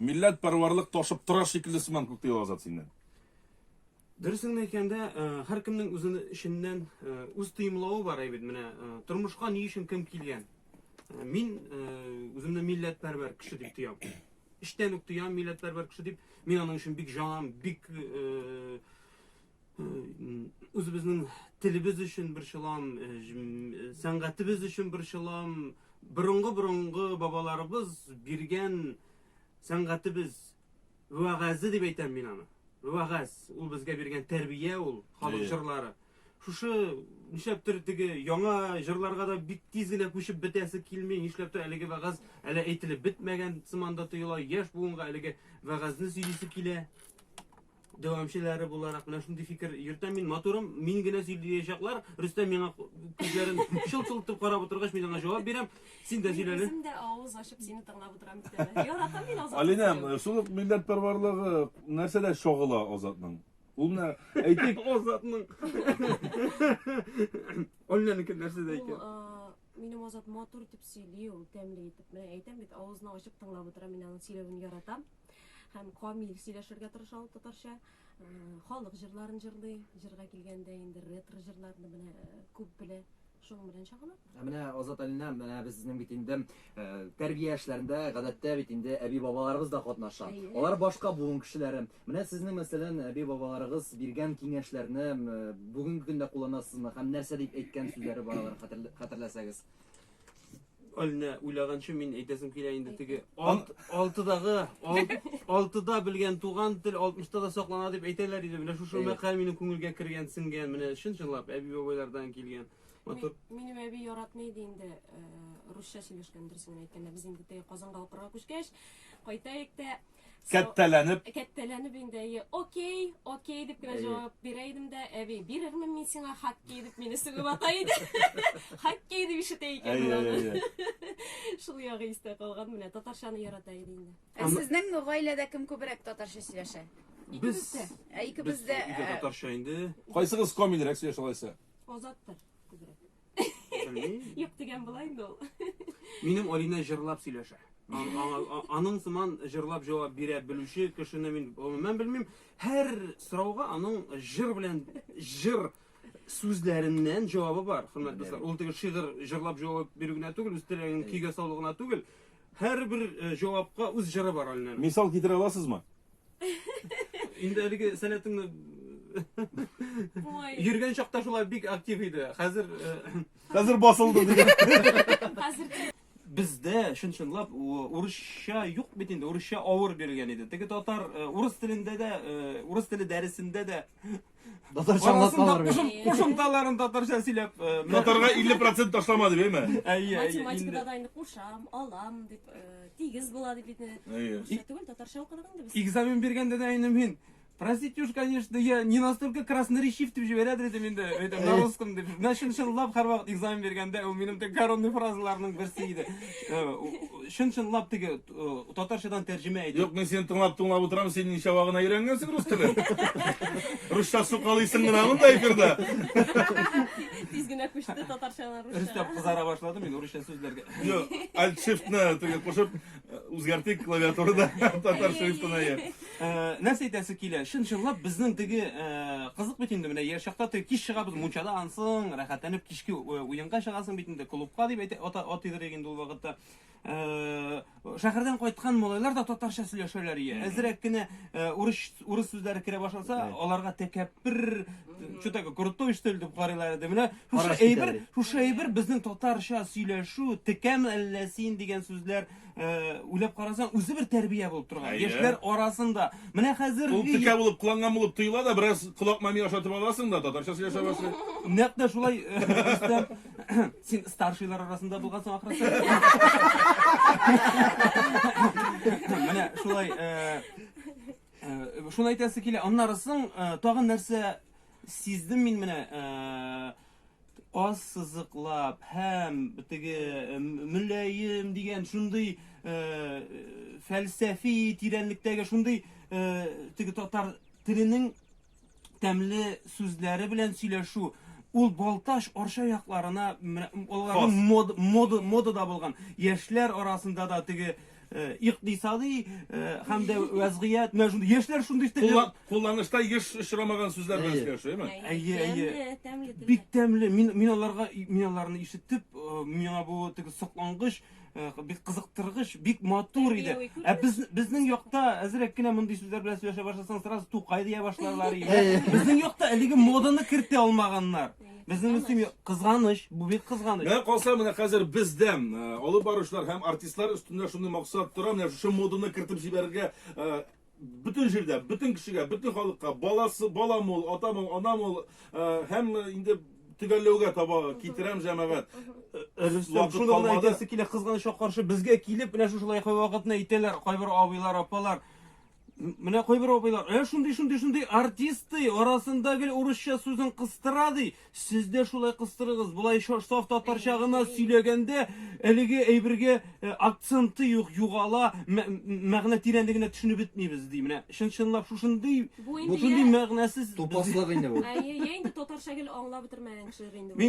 Милләтпәрварлык ташып тора шикелле сыман күк тиде Азат синнән. Дөресен әйткәндә, һәркемнең үз эченнән үз тоемлавы бар әйбит. Менә тормышка ни өчен кем килгән? Мин үземне милләтпәрвәр кеше дип тоям. Эчтән үк тоям милләтпәрвәр кеше дип. Мин аның өчен бик җанам, бик үзебезнең телебез өчен борчылам сәнгатебез өчен борчылам борынгы борынгы бабаларыбыз биргән сәнгатебез вәгазе дип әйтәм мин аны вәгаз ул безгә биргән тәрбия ул халык җырлары шушы нишләптер теге яңа җырларга да бик тиз генә күчеп бетәсе килми нишләптер әлеге вәгаз әле әйтелеп бетмәгән сыман да тоела яшь буынга әлеге вәгазне сөйлисе килә дәвамчылары буларак менә шундый фикер йөртәм мин матурым мин генә сөйләячәкләр рөстәм миңа күзләрен шылт шылт итеп карап утыргач мин аңа җавап бирәм син дә сөйлә әле дә авыз ачып сине тыңлап утырам бит әле яратам мин азат алинәм шул ук милләт парварлыгы нәрсәдә чагыла азатның ул менә әйтик азатның алинәнеке нәрсәдә икән Минем Азат матур итеп сөйли ул, тәмле итеп. Менә әйтәм бит, авызны ачып тыңлап утыра, мин аның сөйләвен яратам. Һәм камил сөйләшергә тырыша ул татарча. Халык җырларын җырлый, җырга килгәндә инде ретро җырларны менә күп белә. Шуның белән чагыла. Ә менә Азат Алина, менә безнең бит инде тәрбия эшләрендә гадәттә бит инде әби-бабаларыбыз да катнаша. Алар башка буын кешеләре. Менә сезнең, мәсәлән, әби-бабаларыгыз биргән киңәшләрне бүгенге көндә кулланасызмы һәм нәрсә дип әйткән сүзләре бар алар хәтерләсәгез? Алинә, уйлаганчы мин әйтәсем килә инде теге алт, алтыдагы, алт, алтыда белгән туган тел алтмышта да саклана дип әйтәләр иде. Менә шушы мәкаль минем күңелгә кергән, сеңгән, менә чын-чынлап әби-бабайлардан килгән. Матур. Минем әби яратмый иде инде русча сөйләшкән, дөресен генә әйткәндә. Без инде теге Казанга укырга күчкәч, кайтаек та Кәттәләнеп. Кәттәләнеп инде әйе. Окей, окей дип кенә җавап бирә идем дә, әби, бирермен мин сиңа хоккей дип мине сүгеп ата иде. Хоккей дип ишетә икән ул. Шул ягы истә калган менә. Татарчаны ярата иде инде. Ә сезнең гаиләдә кем күбрәк татарча сөйләшә? Без. Ә икебез дә. Без татарча инде. Кайсыгыз комильрәк сөйләшә алайса? Азаттыр күбрәк. Белмим. Юк дигән була инде ул. Минем Алина җырлап сөйләшә. Ан- ана- а- Аның сыман җырлап җавап бирә белүче кешене мин гомумән белмим. Һәр сорауга аның җыр белән җыр сүзләреннән җавабы бар. Хөрмәт дуслар, ул теге шигырь җырлап җавап бирү генә түгел, үз теләген көйгә салу гына түгел. Һәрбер э, җавапка үз җыры бар Алинәнең. Мисал китерә аласызмы? Инде әлеге сәләтеңне Ой. Йөргән чакта шулай бик актив иде. Хәзер э, Хәзер басылды дигән. Хәзер бездә чын-чынлап урысча юк бит инде, урысча авыр бирелгән иде. Теге татар э, урыс телендә дә, э, урыс теле дәресендә дә Татарча аңлатмалар бит. Кушымталарын татарча сөйләп. Татарга 50% ташлама дип, әйме? Әйе, әйе. Математикада да инде кушам, алам дип, тигез була дип инде. Әйе. Түгел, татарча укыдык инде без. Экзамен биргәндә дә инде мин Простите уж, конечно, я не настолько красноречив дип җибәрәдер идем инде, әйтәм, на русском дип. Менә чын чынлап һәрвакыт экзамен биргәндә ул минем тек коронный фразаларның берсе иде. Чын чынлап теге Э, татарчадан тәрҗемә әйтеп. Юк, мин сине тыңлап тыңлап утырам, син ничава гына өйрәнгәнсең рус телен. Русча сукалыйсың гына монда эфирда. Тиз генә күчте татарчадан русча. Рөстәм кызара башлады мин русча сүзләргә. Юк, alt shift-ны теге кушып э, үзгәртик клавиатурада татар шрифтына я. Э, нәрсә әйтәсе килә? Чын-чынлап безнең теге кызык бит инде менә яшь чакта теге кич чыгабыз мунчада ансың, рәхәтләнеп кичке уенга чыгасың бит инде клубка дип атыйдыр инде ул вакытта. Э, шәһәрдән кайткан малайлар да татарча сөйләшәләр ие әзрәк кенә э, урыс урыс сүзләре керә башласа аларга тәкәппер что такое крутой что ли дип карыйлар иде менә шушы әйбер шушы әйбер безнең татарча сөйләшү текәм әллә син дигән сүзләр э, уйлап карасаң үзе бер тәрбия булып торган яшьләр арасында менә хәзер ул текә булып кыланган булып тоела да бераз колак мами ашатып аласың да татарча сөйләшә башлый нәкъ тә шулай Син старшийлар арасында булгансың ахрысы. Менә шулай э, э, шуны әйтәсе килә. Аннары соң э, тагын нәрсә сиздем мин менә э, аз сызыклап һәм теге э, мөләем дигән шундый э, фәлсәфи тирәнлектәге шундый э, теге татар теленең тәмле сүзләре белән сөйләшү ул Балтач Арча якларына аларның мод, мод, модада булган яшьләр арасында да теге э, икътисади э, һәм дә вәзгыять менә шундый яшьләр шундый телне кулланышта еш очрамаган сүзләр белән сөйләшү, әйме? Әйе, әйе. Тәмле, тәмле телдә. Бик тәмле. Мин мин аларга мин аларны ишетеп, э, миңа бу теге соклангыч Э, бик кызыктыргыч, бик матур иде. Ә без безнең якта әзрәк кенә мондый сүзләр белән сөйләшә башласаң, сразу тукай дия башларлар иде. Безнең якта әлеге моданы кертә алмаганнар. Безнең өчен кызганыч, бу бик кызганыч. Менә калса менә хәзер бездән э, алып баручылар һәм артистлар өстендә шундый максат тора, менә шушы моданы кертеп җибәрергә э, Бөтен җирдә, бөтен кешегә, бөтен халыкка баласы, бала мул, ата мул, ана мул, һәм инде төгәлләүгә таба китерәм җәмәгать. Рөстәм, шуны гына әйтәсе килә, кызганычка каршы, безгә килеп, менә шушылай вакытны әйтәләр кайбер абыйлар, апалар. Менә кайбер абыйлар, ә шундый, шундый, шундый артист ди, арасында гел урысча сүзен кыстыра ди. Сез дә шулай кыстырыгыз. Болайша саф татарча гына сөйләгәндә, әлеге әйбергә э, акценты юк, югала, мәгъ- мәгънә тирәнлегенә төшенеп бетмибез, ди. Менә чын-чынлап шушындый, Бу инде бушындый я- мәгънәсез Тупаслык инде бу. Әйе, я инде татарча гел аңлап бетермәгән кешеләр инде бу. Мин